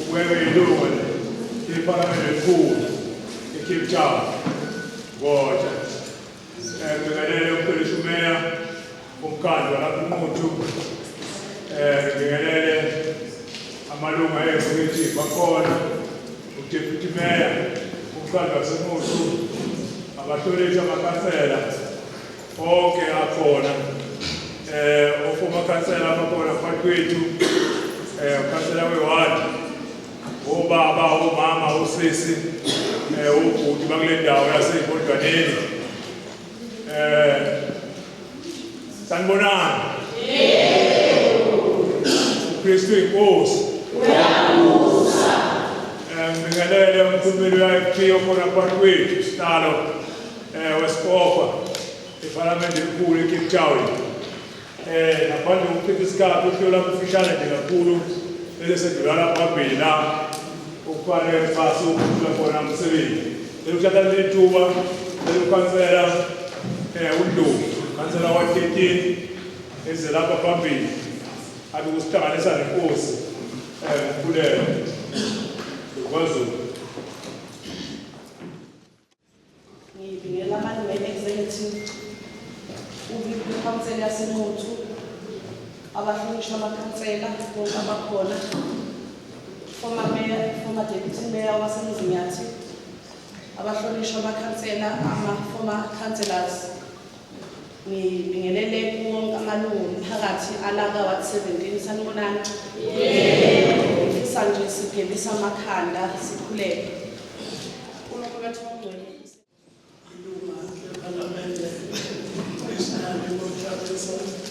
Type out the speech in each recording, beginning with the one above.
Ukuyeka ilungu liPhalamende elikhulu eCape Town ngoja ngibingelele uMpelisi uMeya umkhandlu walapha uNquthu um ngibingelele amalungu ayezikithi bakhona uDeputy Mayor umkhandlu waseNquthu abahlonishwa amakhansela onke akhona eh ofuma khansela abakhona phakathi kwethu eh khansela weward ubaba umama usisi eh ubhuti bakule ndawo yaseyikodwaneni eh sanibonani uKristu inkosi uyabusa eh ngibingelele umkhulumeli wa FP okhona phakathi kwethu sitalo eh, wesikofa ephalamende elikhulu ecape town eh, ngaphandle kokuchitha isikhathi uhlelo lakufishane nje kakhulu elesedlulala phambili la okufanele kufase ukukhula khona umsebenzi eluthatha leli thuba elukhansela um undlovu khansela wa-thirteen eze lapha phambili abe kusihlanganisa nenkosi um umkhulelo kwazulu Ngibingelela amalungu e-executive, ikhansela yaseNquthu, abahlonishwa amakhansela bonke abakhona, former mayor, former deputy mayor waseMzinyathi, abahlonishwa amakhansela, ama-former councillors, Ngibingelele kuwonke amalungu omphakathi alaka Ward 17 sanibonani. Yebo. Ngifisa nje sigebisa amakhanda sikhuleke. UNkulunkulu wethu ongcwele. Ilunga lePhalamende National Democratic Party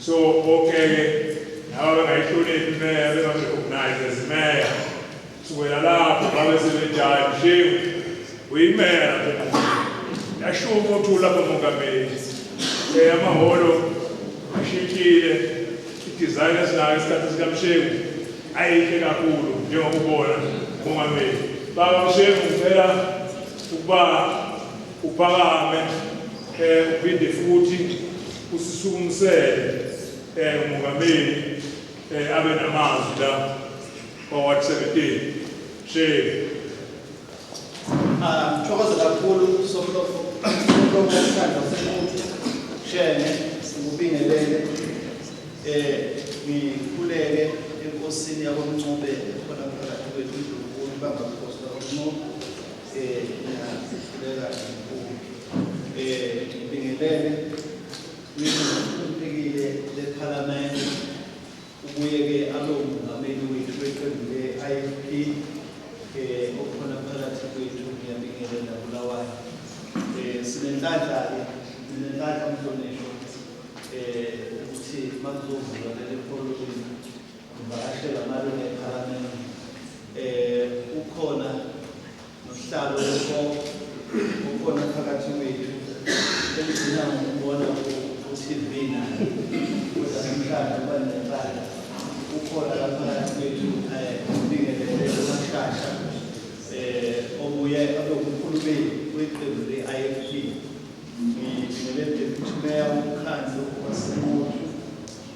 So okay laba bengayihloniphi imeya bengazirecognize as imeya kusukela lapho babe sebejayo shame uyimeya lapho yashuka umothula lapho mongameli eyamahholo ashintshile i-design esinayo isikhathi sikamshewu ayinhle kakhulu njengokubona mongameli baba mshewu ngicela ukuba uphakame um uphinde futhi Usisukumisele eh umongameli eh abe namazwi la kwa Ward 17. Shame. Ah, thokoza kakhulu somlofo somlofo wesandla semuntu shene ngikubingelele eh ngikhuleke enkosini yakwamncube khona phakathi kwethu indlunkulu bamba mkhosi kwakwamncube eh ngiyakhuleka Eh, ngibingelele kwiphekile lephalamende ubuye ke abe umongameli wethu weqembu le-IFP eh okhona phakathi kwethu ngiyabingelela Bulawayo eh sinenhlanhla ke sinenhlanhla mhlonishwa eh ukuthi makuzovula leli polling ngibashela malungu ephalamende eh ukhona Nohlalo lwenkolo ukhona phakathi kwethu elidinga ngokubona ku-TV naye kodwa namhlanje uba nencala ukhona la phakathi kwethu um ubingelele umashasha um obuye abe umkhulumeli weqembu le-ifp ngibingelele deputy mayor womkhandlu wasemutu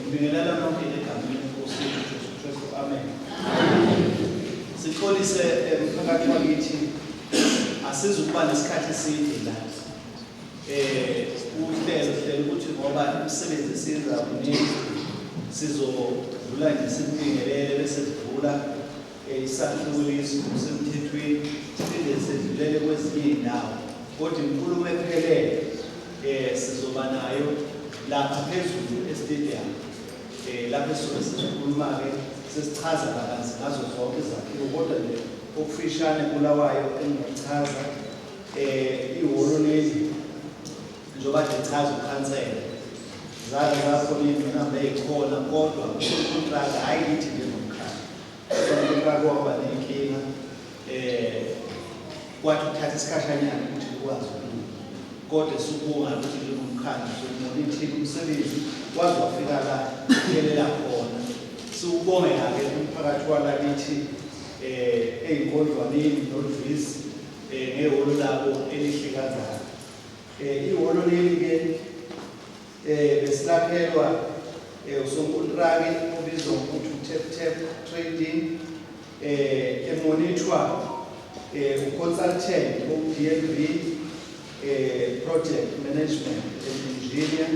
Ngibingelela nonke egameni lenkosi yethu Jesu Kristu. Amen. Sixolise eh, mphakathi wakithi asizukuba nesikhathi eside la. Eh uhlelo hlelo ukuthi ngoba imisebenzi esiyenza kuningi sizodlula nje simbingelele bese sidlula Isahlukuliso ngokusemthethweni siphinde sedlulele kwezinye izindawo kodwa inkulumo ephelele um sizoba nayo lapha phezulu estadium um lapho esuke sesikhuluma-ke sesichaza kabanzi ngazo zonke izakhiwo kodwa nje okufishane kulawayo engingakuchaza um ihholo leli njengoba nje chaza ukhansela zake zakhona iy'ngqinamba ey'khona kodwa ukhontraka hhayi lithi nje Kwake waba nenkinga eh kwathi ukuthatha isikhashanyana ukuthi ukwazi ukulunga kodwa sibonga ukuthi njengomkhandlu sokumonithile umsebenzi waze wafika la uyelela khona siwubongela-ke umphakathi walakithi eh ey'nkondlwaneni noluvisi eh ngehholo labo elihlikazayo eh ihholo leli-ke Eh besilakhelwa eh usonkontraki obizwa ngokuthi uTap Tap Trading eh emonithwa eh uconsultant oDLB eh project management engineer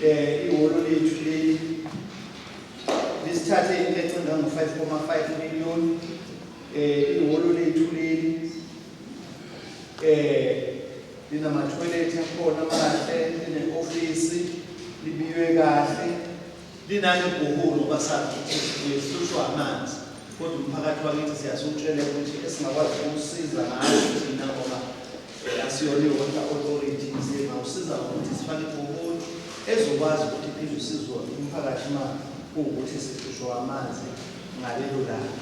eh iholo lethu leli lisithathe into ecinga ngo 5.5 million eh iholo lethu leli eh linamatoilet akhona amahle lineofisi libiywe kahle linani ibhuhulu basathi uhlushwa amanzi kodwa umphakathi wakithi siyasutshela ukuthi esingakwazi ukusiza ngayo thina ngoba eh, asiyona i-water authority nzima usiza ngokuthi sifake ibhuhulu ezokwazi ukuthi iphinde usizwe umphakathi uma kuwukuthi sihlushwa amanzi ngalelo langa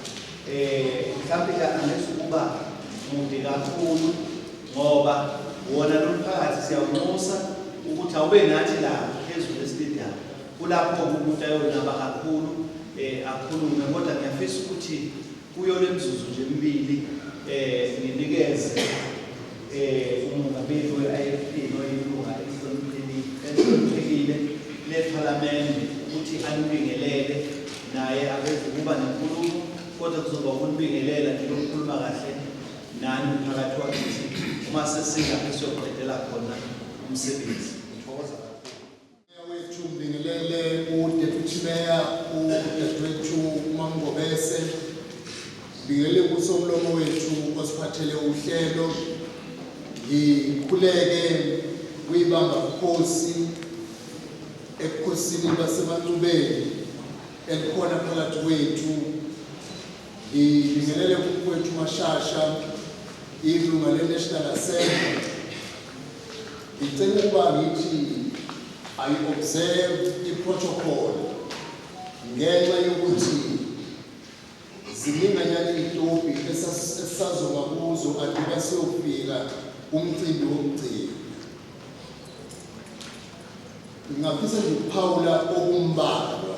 Eh mhlambe la unless ukuba mude kakhulu ngoba wona lomphakathi siyawunxusa ukuthi awube nathi la phezulu estadium kulapho umuntu ayonaba kakhulu eh akhulume kodwa ngiyafisa ukuthi kuyo lemzuzu nje emibili eh nginikeze eh umongameli we-IFP noyilunga elihloniphekile lePhalamende ukuthi anibingelele naye akekho ukuba nenkulumo kodwa kuzoba ukunibingelela nje lokukhuluma kahle nani umphakathi wakithi uma sesilapho siyoqedela khona umsebenzi ngithokoza kakhulu wethu ngibingelele udeputy meya udadewethu umamngobese ngibingelele kusomlomo wethu osiphathele uhlelo ngikhuleke kuyibamba bukhosi Ebukhosini baseMancubeni elikhona phakathi kwethu, ngibingelele umfowethu Mashasha, ilunga le-National Assembly. Ngicela ukuba ngithi ayi-observe i-protocol ngenxa yokuthi Zininganyana izitobhi esisazoma kuzo andiba siyofika umcimbi wokugcina. Ngingafisa nje ukuphawula okumbalwa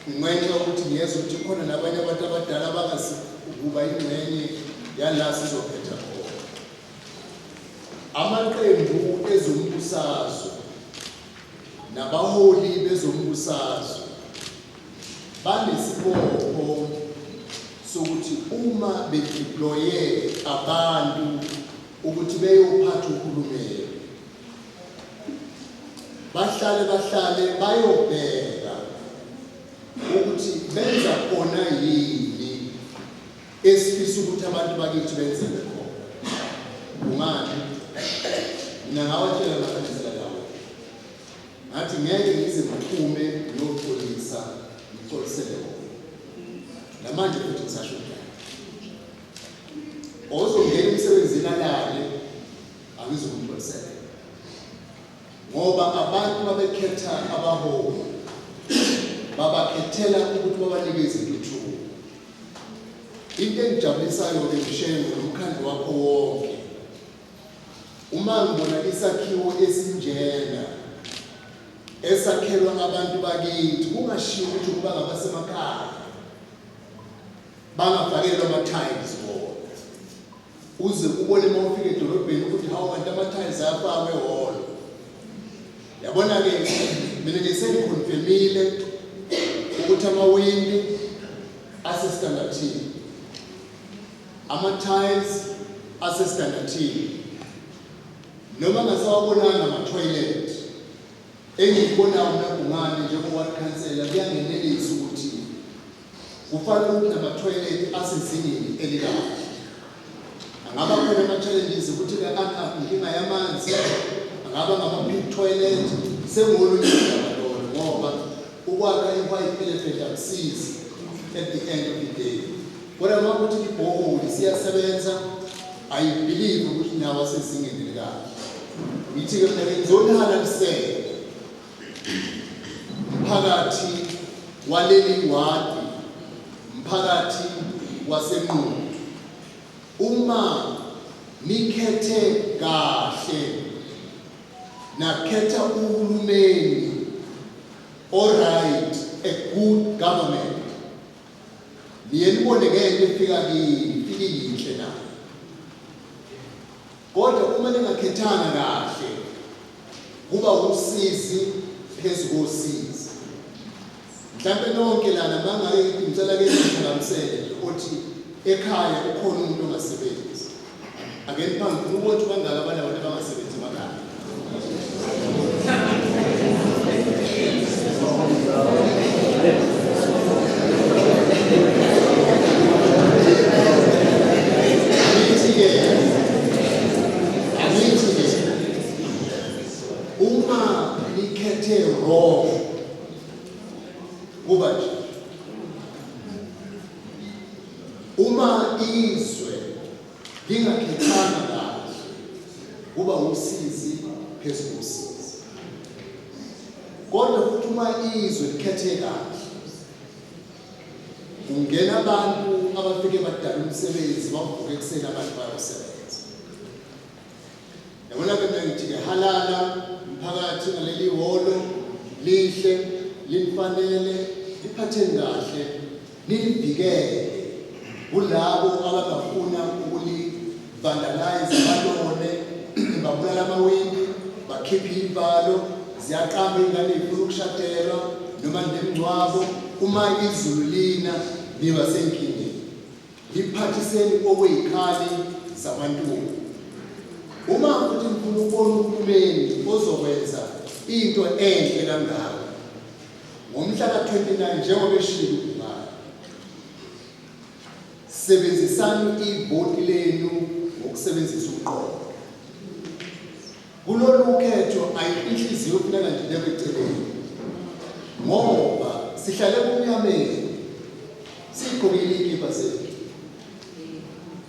ngenxa yokuthi ngiyeza ukuthi khona nabanye abantu abadala abangasi ukuba ingxenye yala sizokhetha khona amaqembu ezombusazwe nabaholi bezombusazwe banesibopho sokuthi uma bedeploye abantu ukuthi beyophatha uhulumeni bahlale bahlale bayobheka ukuthi benza khona yini esifisa ukuthi abantu bakithi benzele khona kungani mina ngawatshela Ngathi ngeke ngize ngiphume ngiyoxolisa ngixolisele wona. Namanje futhi ngisasho njalo. Ozongena emsebenzini alale angizokumxolisela. Ngoba abantu babekhetha abaholi babakhethela ukuthi babanike izintuthuko. Into engijabulisayo-ke mshengo nomkhandlu wakho wonke Uma ngibona isakhiwo esinjena esakhelwa abantu bakithi kungashiwo ukuthi ukuba ngabasemakhaya bangafakelwa ama-tiles wona uze ubone uma ufika edolobheni ukuthi hawu kanti ama-tiles ayafakwe wona yabona-ke mina nje sengikhonfemile ukuthi amawindi asesitandathini Ama-tiles asesidandathini noma ngasawabonanga ama-toilet engikubonayo mina Bhungane njengo-ward councillor kuyangenelisa ukuthi kufanele ukuthi nama-toilet asezingeni elikahle angaba khona ama-challenges ukuthi ka-up inkinga yamanzi angaba ngama-big toilet sengolunye Ukwakha ipipe elephant akusizi at the end of the day. Kodwa uma kuthi ibhoholi siyasebenza, I believe ukuthi nawo asezingeni elikahle. Ngithi-ke mina ngizonihalalisela mphakathi waleli wadi, mphakathi wasenqulu. Uma nikhethe kahle nakhetha uhulumeni oright a good government niye nibone ngeke ifika kini ilinhle na kodwa uma ningakhethanga kahle kuba usizi phezulu kosizi Mhlampe nonke lana mangaye ngicela ke ngihlakamisele nje othi ekhaya ukhona umuntu ongasebenzi. Ake niphange ngifuna ukubona ukuthi bangaka abanye abantu abangasebenzi emakhaya. Angithi ke angithi ke uma nikhethe wrong kuba nje uma izwe lingakhethanga kahle kuba usizi phezu kosizi kodwa futhi uma izwe likhethe kahle kungena abantu abafike badala umsebenzi bavuke ekuseni abantu bayosebenza Yabona-ke mina ngithi-ke halala mphakathi ngaleli hholo lihle linifanele liphatheni kahle nilivikele kulabo abangafuna ukulivandalayiza balone babulala amawindi bakhiphe iy'valo ziyaqamba iy'ngane y'funa ukushadelwa noma nemngcwabo uma izulu lina niba senkingeni Ngiphathiseni okweyikhali zamantungu. Uma futhi ngifuna ukubona uhulumeni ozokwenza into enhle kangaka ngomhla ka-29 njengoba eshilo ubungane sebenzisani ivoti lenu ngokusebenzisa umqondo Kulolu khetho ayikho inhliziyo kufuneka nje ibekwe eceleni ngoba sihlale kumnyameni sigqokile iy'kibha zethu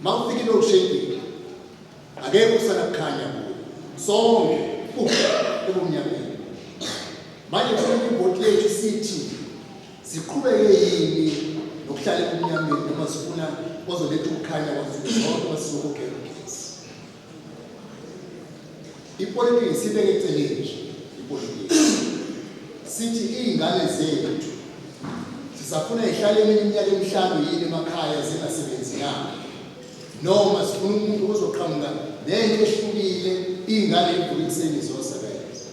uma ufika iload shedding akekho usana kukhanya kuyo sonke ebumnyameni manje kufuneka ibhodi lethu sithi siqhubeke yini nokuhlala ebumnyameni noma sifuna ozoletha ukukhanya kwazethu zonke masizokugela Ipolitiki sibeke eceleni nje ipolitiki. Sithi iy'ngane zethu zisafuna y'hlale eminye iminyaka emihlanu yini emakhaya zingasebenzi na? Noma sifuna umuntu ozoqhamuka nento ehlukile iy'ngane evuka ekuseni ziyosebenza.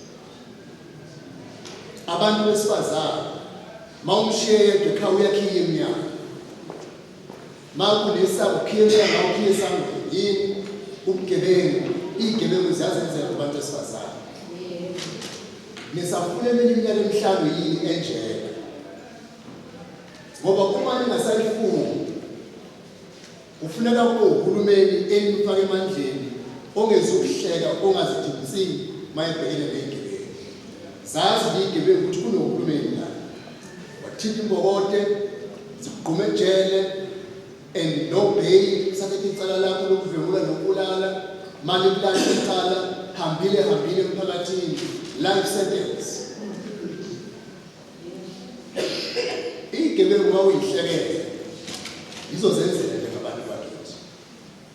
Abantu besifazane ma umshiye yedwa ekhaya uyakhiya emnyango. Makulisa ukhiyesha la ukhiyesa yini ubugebengu izigebengu ziyazenzela kubantu esifazane nisafuna eminye iminyaka emihlanu yini enjena ngoba uma ningasayifuni kufuneka kube uhulumeni enifaka emandleni ongezukuhleka ongazidingisini mayebhekene nezigebengu zazi liyigebengu ukuthi kunohulumeni la wathinta imbokote zigqume ejele and no bail sathethe icala lakho lokuvengula nokubulala manje kulale icala hambile hambile emphakathini life sentence igebengu wawuyihlekele izozenzela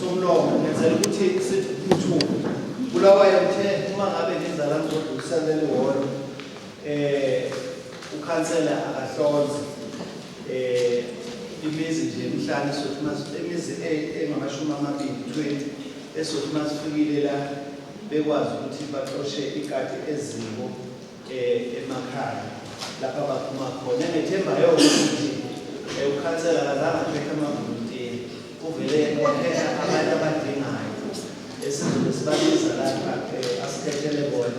somlomo ngenzela ukuthi sithi kuthuka bulawayo uthe uma ngabe ngizala ngizodlulisela leli hholo um eh, ukhansela akahlonze um imizi nje emhlane sothi imizi engamashumi amabili twenty esothi uma sifikile la bekwazi ukuthi baxoshe ikati eziko eh, emakhaya lapha baphuma khona ngethemba yokuthi eh, ukhansela akazange akhethe amavolontiya uvele wakhetha abantu abadingayo esizobe sibabiza lapha eh, asikhethele bona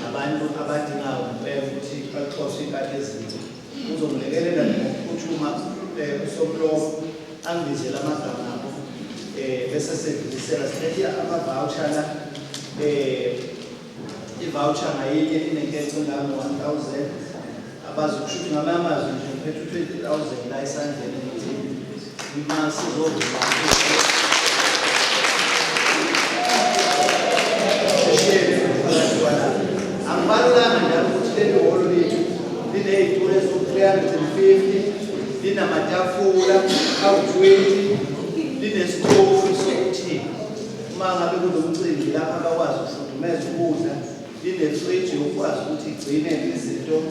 abantu abadingayo ngempela ukuthi baxoshe ikati ezinto uzongilekelela ngokuphutshuma um usomlomo angibizele amagama abo um bese sedlulisela silethe amavawusha la um I-voucher ngayinye inenkece engango-1000 abazi ukushuthi ngamanye amazwi nje ngiphethe u-20000 la esandleni ukuthi uma sizovula angibalulanga njalo ukuthi leli holo lethu liney'tulo eziwu-350 linamatafula awu-20 linesitofu sokuthini Uma ngabe kunomcimbi lapho abakwazi ukufudumeza ukudla, linefriji ukwazi ukuthi igcine izinto um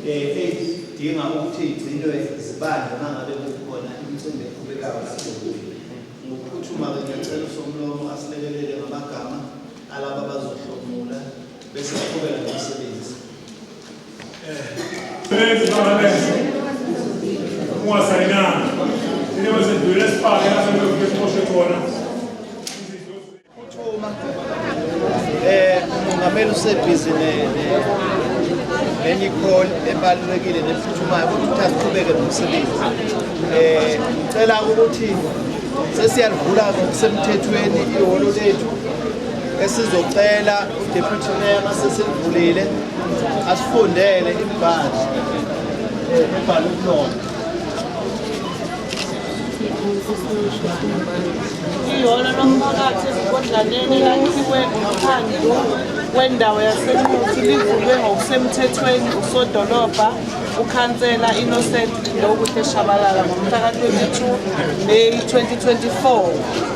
ey'dinga ukuthi igcinwe zibandla uma ngabe kukhona imicimbi eqhubekayo kakhulu. Ngokuphuthuma-ke ngiyacela uSomlomo asilekelele ngamagama alaba abazohlomula bese aqhubeka nomsebenzi. uMongameli usebhizi nenye i-call ebalulekile nephuthumayo ukuthi asiqhubeke nomsebenzi eh, um ngicela ukuthi sesiyalivula ngokusemthethweni ihholo lethu esizocela uDeputy Mayor masesivulile asifundele imibhalo ebhalwe kulona iyona lomphakathi ezigodlaneni lakhiwe ngaphandle wendawo yasenquthi livulwe ngokusemthethweni usodolobha ukhansela innocent lokuhle shabalala ngomhla ka-22 may 2024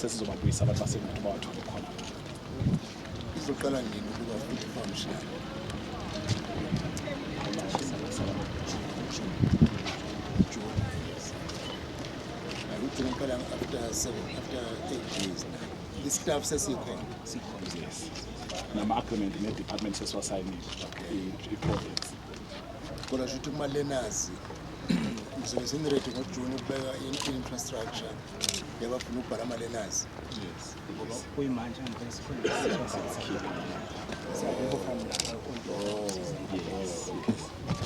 sesizobabuyisa abantu basebuthi bawathole khona izoqala nini ukuba futhi famshaya ngigcina kuphela after seven after eight days istaff sesikhona sikhona yes nama-agreement ne-department sesiwasayinile i-project kodwa shuthi uma lenazi ngizobe sengiredi ngojuni ukubeka i-infrastructure yabafuna ukubhala amalenazi ngoba kuyimanje angivele sikhona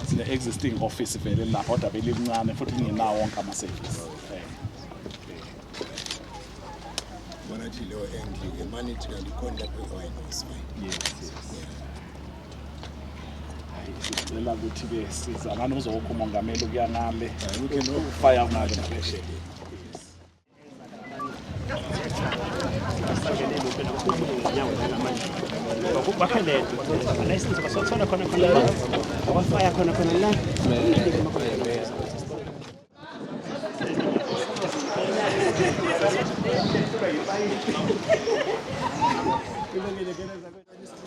sine-existing office vele lapha kodwa belilincane futhi lingenawo wonke ama-service bona thi leyo endlike manithi kanti khona lapho i-wine yes, yes. Yeah. sicela ukuthi-ke sizalane uzokho umongameli ukuya nale ufaya kunale naphesheya bakhalele anayisizo basothola khona khona abafaya khona khona la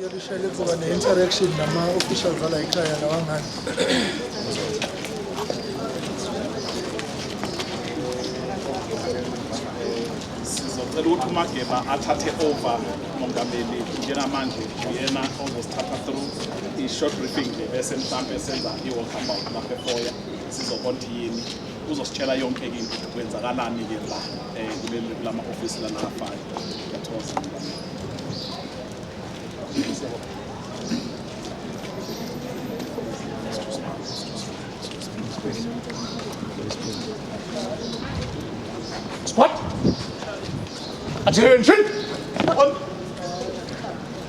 Yarışayla kuba ne interaction ama official zala ikhaya la wangani. Sizocela ukuthi uMageba athathe over umongameli njengamanje uyena ozosithatha through i-short briefing le bese mhlampe senza i-walkabout lapha efoya sizobona yini uzositshela yonke into kwenzakalani ke la eh kuleli kulama office lana afana yathoza Squad! Attention!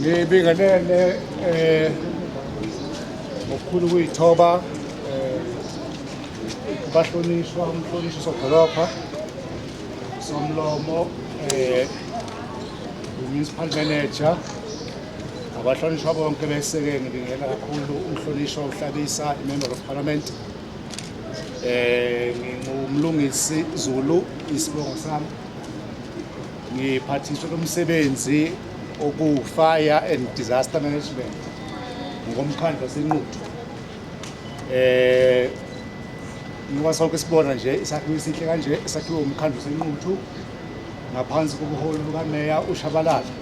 ngibingelele eh ngokukhulu kuyithoba eh bahlonishwa umhlonishwa sodolopha somlomo eh Municipal Manager abahlonishwa bonke beseke ngibingela kakhulu umhlonishwa uhlabisa imember of parliament eh ngingumlungisi Zulu isibongo sami ngiphathiswe lomsebenzi oku fire and disaster management ngomkhandlu wasenquthu eh ngoba sonke sibona nje isakhiwo esihle kanje esakhiwe umkhandlu wasenquthu ngaphansi kobuholi bukaMeya uShabalala.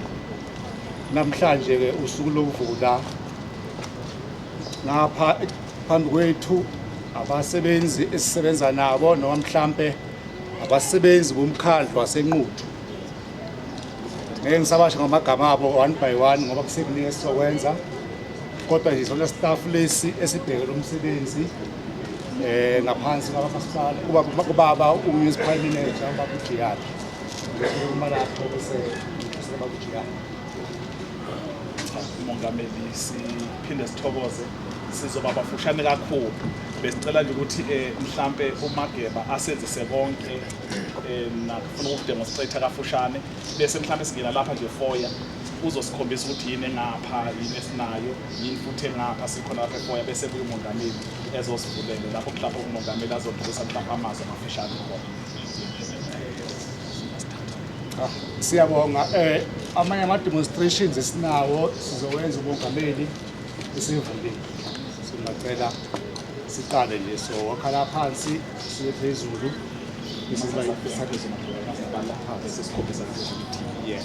Namhlanje-ke usuku lokuvula ngapha phambi kwethu abasebenzi esisebenza nabo noma mhlampe abasebenzi bomkhandlu wasenquthu ngeke ngisabasho ngamagama abo one by one ngoba kusekuningi esizokwenza kodwa nje sona staff lesi esibheke lo msebenzi eh ngaphansi kwamasipala kuba kubaba umunicipal manager ubaba uJiyana uma lapho bese ubaba uJiyana umongameli siphinde sithokoze sizoba bafushane kakhulu besicela nje ukuthi eh, mhlampe umageba asenzise konke eh, nakufuna ukudinga sicetha kafushane bese mhlampe singena lapha nje foya uzosikhombisa ukuthi yini engapha yini esinayo yini futhi engapha sikhona lapha efoya bese kuye umongameli ezosivulele lapho mhlawumbe umongameli azodlulisa mhlawumbe amazwi amafishane khona ah, siyabonga eh amanye ama demonstrations esinawo sizowenza umongameli isivulile singacela siqale nje so wakhala phansi siye phezulu isiba isakhe zona phansi sikhombisa ukuthi yeah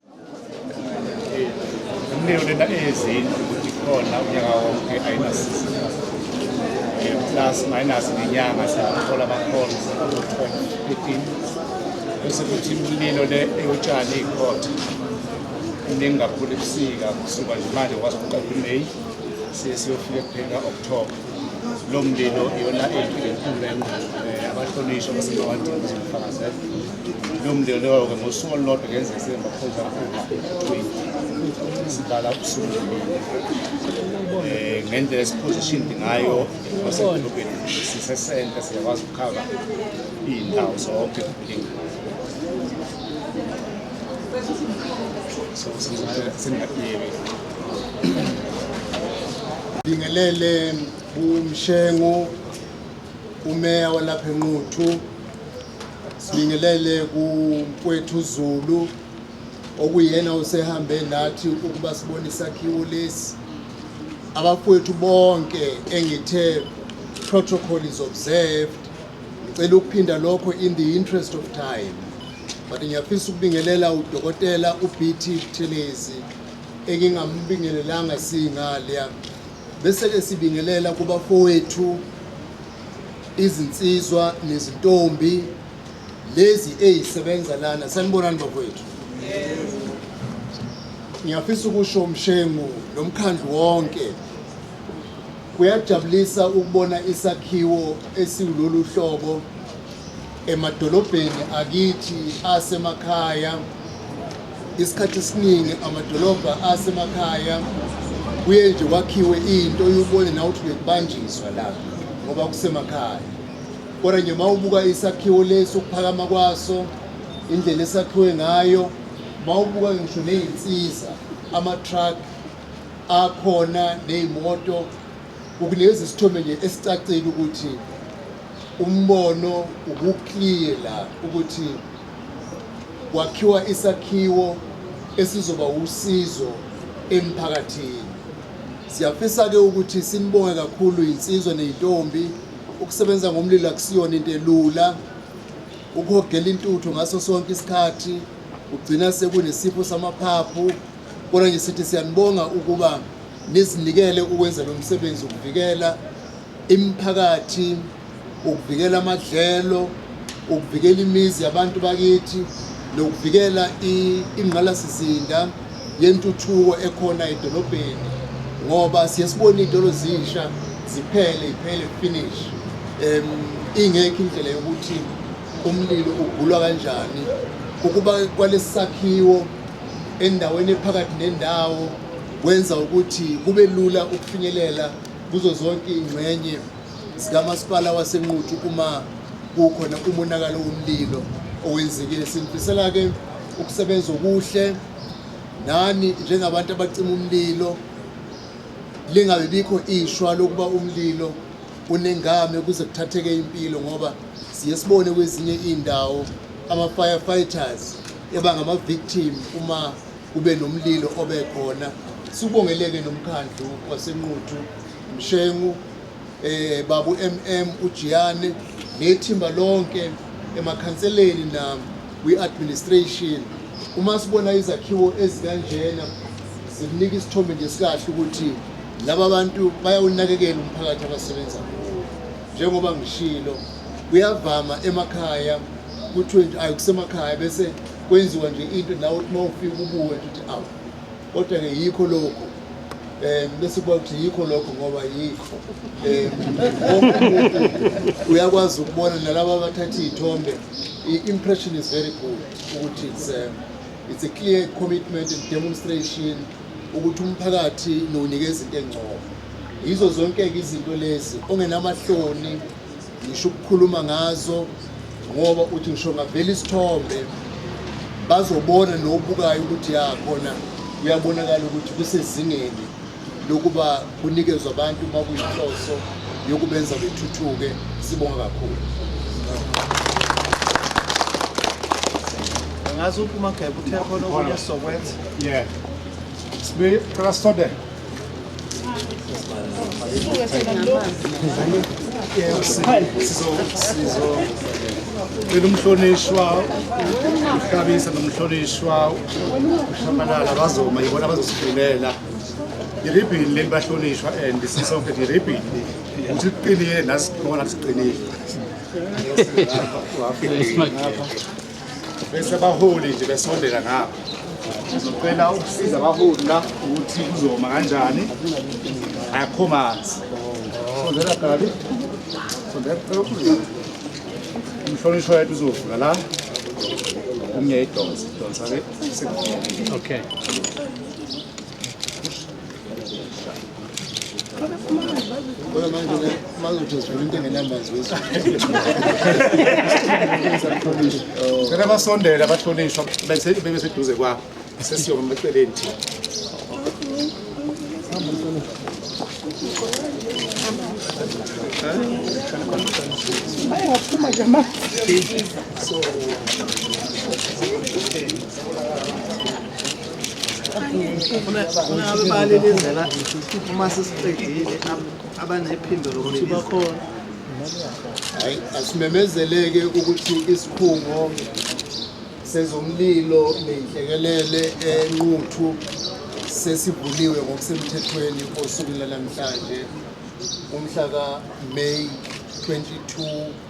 Umlilo lena eyezindlu ukuthi khona unyaka wonke ayinasiza plus minus ngenyanga siyathola abakhona fifteen bese kuthi imililo le eyotshani ikhotha iningi kakhulu ebusika kusuka nje manje kwazi ukuqala umeyi siye siyofika ekuphela october lo mlilo iyona eyinkinga enkulu abahlonishwa basebawadinga zokufakazela lo mndeni lowo-ke ngosuku olulodwa ngenzeka sebemaphoyisa over-twenty sivala ubusuku um eh, ngendlela esiphozishindi ngayo basedolobheni sisesenta siyakwazi ukukhava iy'ndawo zonke kulingana so singakuyeki bingelele bumshengu umeya walapha enquthu sibingelele kumfowethu zulu okuyena usehambe nathi ukuba sibone isakhiwo lesi abafowethu bonke engithe protocol is observed ngicela ukuphinda lokho in the interest of time but ngiyafisa ukubingelela udokotela ubt buthelezi engingambingelelanga singaleya Bese-ke sibingelela kubafowethu izinsizwa nezintombi lezi ezisebenza lana sanibonani bafowethu ngiyafisa ukusho umshengu nomkhandlu wonke kuyajabulisa ukubona isakhiwo esiwulolu hlobo emadolobheni akithi asemakhaya isikhathi esiningi amadolobha asemakhaya kuye nje kwakhiwe into oyubone nawe uthi bekubanjiswa la ngoba kusemakhaya kodwa nje uma ubuka isakhiwo lesi ukuphakama kwaso indlela esakhiwe ngayo uma ubuka ngisho ney'nsiza ama-truck akhona ney'moto ukulezi sithombe nje esicacile ukuthi Umbono ubuclear la ukuthi kwakhiwa isakhiwo esizoba usizo emphakathini. Siyafisa-ke ukuthi sinibonge kakhulu yinsizwa ney'ntombi. Ukusebenza ngomlilo akusiyona into elula. Ukuhogela intuthu ngaso sonke isikhathi kugcina sekunesipho samaphaphu. Kodwa nje sithi siyanibonga ukuba nizinikele ukwenza lo msebenzi ukuvikela Imiphakathi, ukuvikela amadlelo, ukuvikela imizi yabantu bakithi nokuvikela ingqalasizinda yentuthuko ekhona edolobheni ngoba siye sibone iy'tolo zisha ziphele iphele finish um ingekho indlela yokuthi umlilo ugulwa kanjani ukuba kwalesi sakhiwo endaweni ephakathi nendawo kwenza ukuthi kube lula ukufinyelela kuzo zonke iy'ngxenye zikamasipala wasenquthu uma kukhona umonakalo womlilo owenzekile sinifisela-ke ukusebenza okuhle nani njengabantu abacima umlilo lingabe bikho ishwa lokuba umlilo unengame kuze kuthatheke impilo ngoba siye sibone kwezinye iy'ndawo ama-firefighters eba ngama-victim uma kube nomlilo obekhona sibongeleke nomkhandlu wasenquthu mshengu eh babu mm ujiyane nethimba lonke emakhanseleni nam kwi-administration uma sibona izakhiwo ezikanjena zikunika isithombe nje sikahle ukuthi laba bantu bayawunakekela umphakathi abasebenza kuwo njengoba ngishilo kuyavama emakhaya kuthiwe nje ayi kusemakhaya bese kwenziwa nje into nawe uthi uma ufika ubuwe nje uthi awu kodwa-ke yikho lokhu um bese kuba ukuthi yikho lokho ngoba yikho um uyakwazi ukubona nalaba abathatha iy'thombe i-impression is very good ukuthi it's, um, it's a clear commitment and demonstration ukuthi umphakathi nowunikeza into engcobo yizo zonke-ke izinto lezi ongenamahloni ngisho ukukhuluma ngazo ngoba uthi ngisho ngavela isithombe bazobona nobukayo ukuthi ya khona kuyabonakala ukuthi kusezingeni lokuba kunikezwe abantu uma kuyinhloso yokubenza bethuthuke sibonga kakhulu ngazi uphuma gebe uthe khona okunye sokwenza yeah sibe qala sisondele Cela umhlonishwa uhlabisa nomhlonishwa ushabalala bazoma yibona bazosifulela iribhini leli bahlonishwa and sisonke iribhini ukuthi liqinile nasibona siqinile bese abaholi nje besondela ngapha ngizocela ukusiza abaholi la ukuthi kuzoma kanjani akho manzi sondela gabi sondela umhlonishwa yethu uzovula la umnye idonsa idonsa ke okay Ngeke basondela bahlonishwa bese bebe seduze kwabo sesiyoma maceleni thina. So asimemezeleke ukuthi isikhungo sezomlilo nenhlekelele enquthu sesivuliwe ngokusemthethweni osukwini lanamhlanje umhla ka-may 22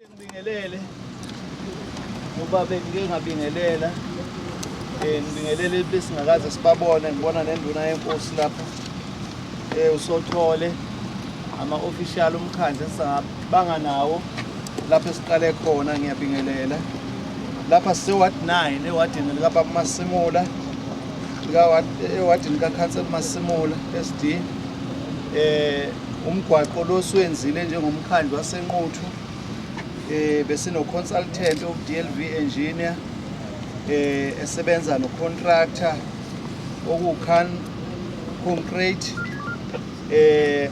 Ngibingelele ngoba bengike ngabingelela eh, ngibingelele besingakaze sibabone ngibona nenduna yenkosi lapha eh, usothole ama-official umkhandlu esingabanga nawo lapho esiqale khona ngiyabingelela lapha siseward 9 ewadini likababa masimula ewadini eh, kakhansel masimula sd um Umgwaqo lo siwenzile njengomkhandlu waseNquthu eh besino-consultant oku-DLV engineer eh esebenza no-contractor okuwucan concrete eh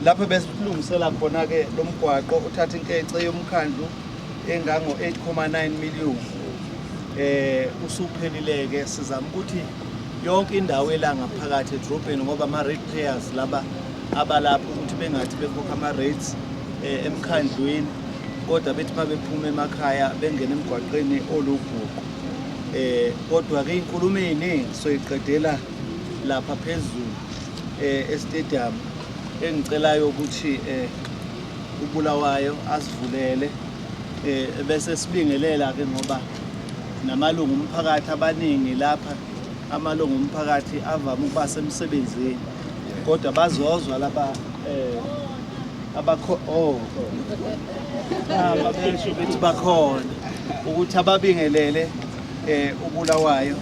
lapho besilungisela khona-ke lo mgwaqo uthatha inkece yomkhandlu engango-8,9 million eh usuphelile-ke sizama ukuthi yonke indawo elanga phakathi edrobheni ngoba ama-red players laba abalapha ukuthi bengathi bekhokha ama-rates um eh, emkhandlwini kodwa bethi uma bephuma emakhaya bengena emgwaqeni olubhuqu um eh, kodwa-ke inkulumo ey'ningi soyiqedela lapha phezulu um eh, estadium engicelayo ukuthi um ubulawayo asivulele um bese sibingelela-ke ngoba namalungu omphakathi abaningi lapha amalungu omphakathi avame ukuba semsebenzini kodwa bazozwa laba um abakho oh ababesho bethi bakhona ukuthi ababingelele um ubulawayo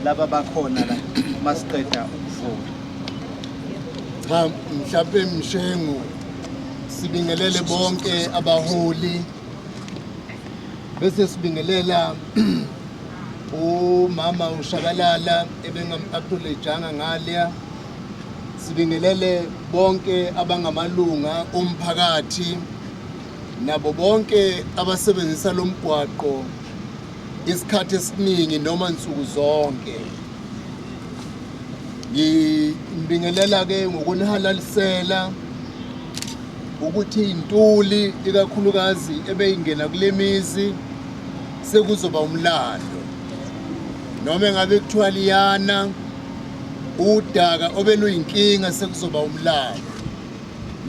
laba bakhona la masiqeda ukuvuma cha mhlawumbe mshengu sibingelele bonke abaholi bese sibingelela umama ushabalala ebengam-acknowledgeanga ngalya sibingelele bonke abangamalunga omphakathi nabo bonke abasebenzisa lo mgwaqo isikhathi esiningi noma nsuku zonke ngibingelela-ke ngokunihalalisela ukuthi intuli ikakhulukazi ebeyingena kule mizi sekuzoba umlando noma engabe kuthiwa liyana udaka obeluyinkinga sekuzoba umlando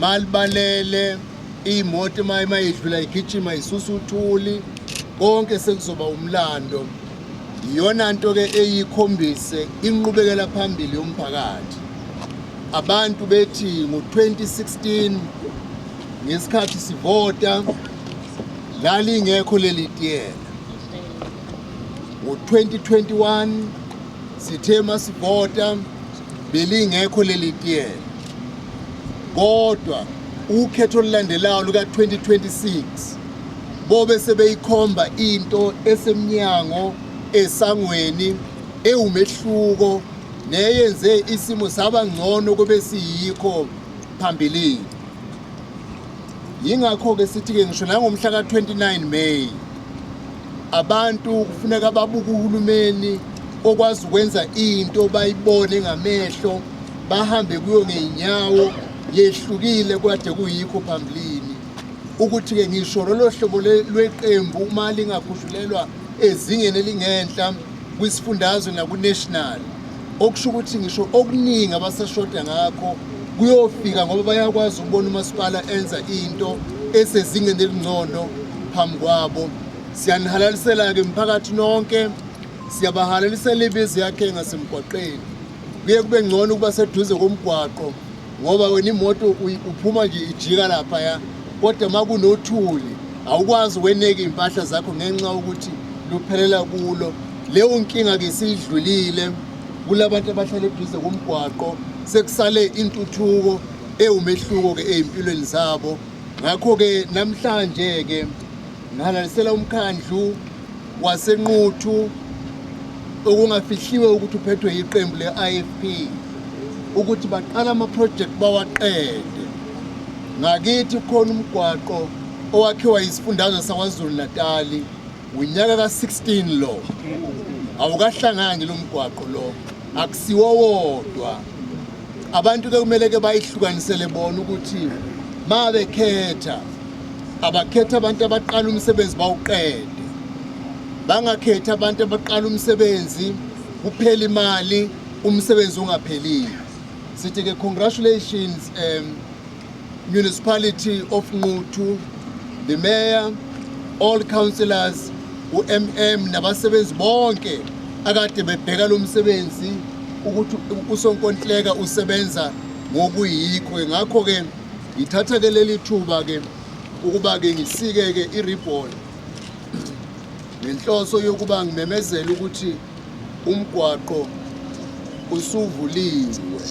malibalele iy'moto uma idlula igijima isusa uthuli konke sekuzoba umlando Iyona nto ke eyikhombise inqubekela phambili yomphakathi. Abantu bethi ngo-2016 ngesikhathi sivota lalingekho leli tiyela. Ngo-2021 sithe masivota belingekho leli tiyela. Kodwa ukhetho olulandelayo luka-2026 bobe sebeyikhomba into esemnyango esangweni ewumehluko neyenze isimo saba ngcono kube siyikho phambilini yingakho-ke sithi-ke ngisho nangomhla ka-29 may abantu kufuneka babuke uhulumeni okwazi ukwenza into bayibone ngamehlo bahambe kuyo ngey'nyawo yehlukile kade kuyikho phambilini ukuthi-ke ngisho lolo hlobo lweqembu uma lingagudlulelwa ezingeni elingenhla kwisifundazwe nakunational okusho ukuthi ngisho okuningi abasashoda ngakho kuyofika ngoba bayakwazi ukubona umasipala enza into esezingeni elingcono phambi kwabo siyanihalalisela-ke mphakathi nonke siyabahalalisela ibizi yakhe ngasemgwaqeni kuye kube ngcono ukuba seduze komgwaqo ngoba wena imoto uphuma nje ijika laphaya kodwa uma kunothuli awukwazi weneke iy'mpahla zakho ngenxa yokuthi luphelela kulo leyo nkinga-ke siyidlulile kulabantu abahlala eduze komgwaqo sekusale intuthuko ewumehluko-ke ey'mpilweni zabo ngakho-ke namhlanje-ke ngihalalisela umkhandlu waseNquthu okungafihliwe ukuthi uphethwe yiqembu le-IFP ukuthi baqala amaprojekti bawaqede ngakithi khona umgwaqo owakhiwa yisifundazwe sakwazulu natali unyaka ka-16 lo awukahlangani lo mgwaqo lo akusiwo wodwa abantu ke kumele ke bayihlukanisele bona ukuthi ma bekhetha abakhethe abantu abaqala umsebenzi bawuqede bangakhethi abantu abaqala umsebenzi kuphela imali umsebenzi ungaphelile sithi ke congratulations um municipality of Nquthu the mayor all councillors uMM nabasebenzi bonke akade bebheka lo msebenzi ukuthi usonkontileka usebenza ngokuyikho ngakho ke Ngithatha ke leli thuba ke ukuba ke ngisike ke i-ribbon ngenhloso yokuba ngimemezele ukuthi umgwaqo usuvuliwe.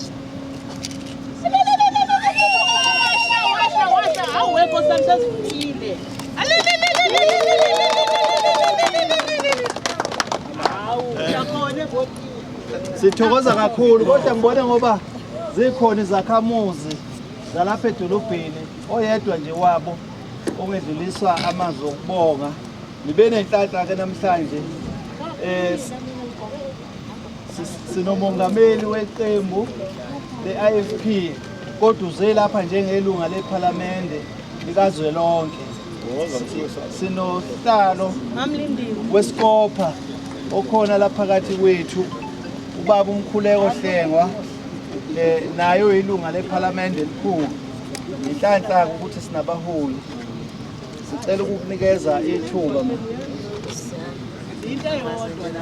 Hawu, yakhona Sithokoza kakhulu kodwa ngibona ngoba zikhona izakhamuzi zalapha edolobheni oyedwa nje wabo ongedluliswa amazwi okubonga nibe nenhlanhla ke namhlanje eh sinomongameli weqembu le-IFP Kodwa uze lapha njengelunga lePhalamende likazwelonke. Sinohlalo weSikopha okhona lapha kathi kwethu ubaba uMkhuleko Hlengwa eh, naye uyilunga lePhalamende elikhulu. Inhlanhla ukuthi sinabaholi. Sicela ukukunikeza ithuba. Into eyodwa la.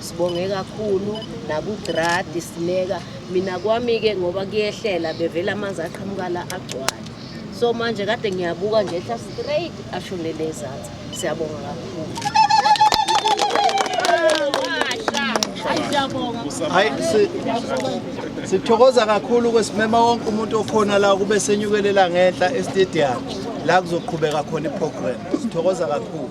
Sibonge kakhulu nakudradi sineka mina kwami-ke ngoba kuyehlela bevele amanzi aqhamukala agcwale so manje kade ngiyabuka nje ehla straight ashonele ezansi siyabonga kakhulu hayi sithokoza kakhulu kwesimema wonke umuntu okhona la kube senyukelela ngenhla estadium la kuzoqhubeka khona iprogram sithokoza kakhulu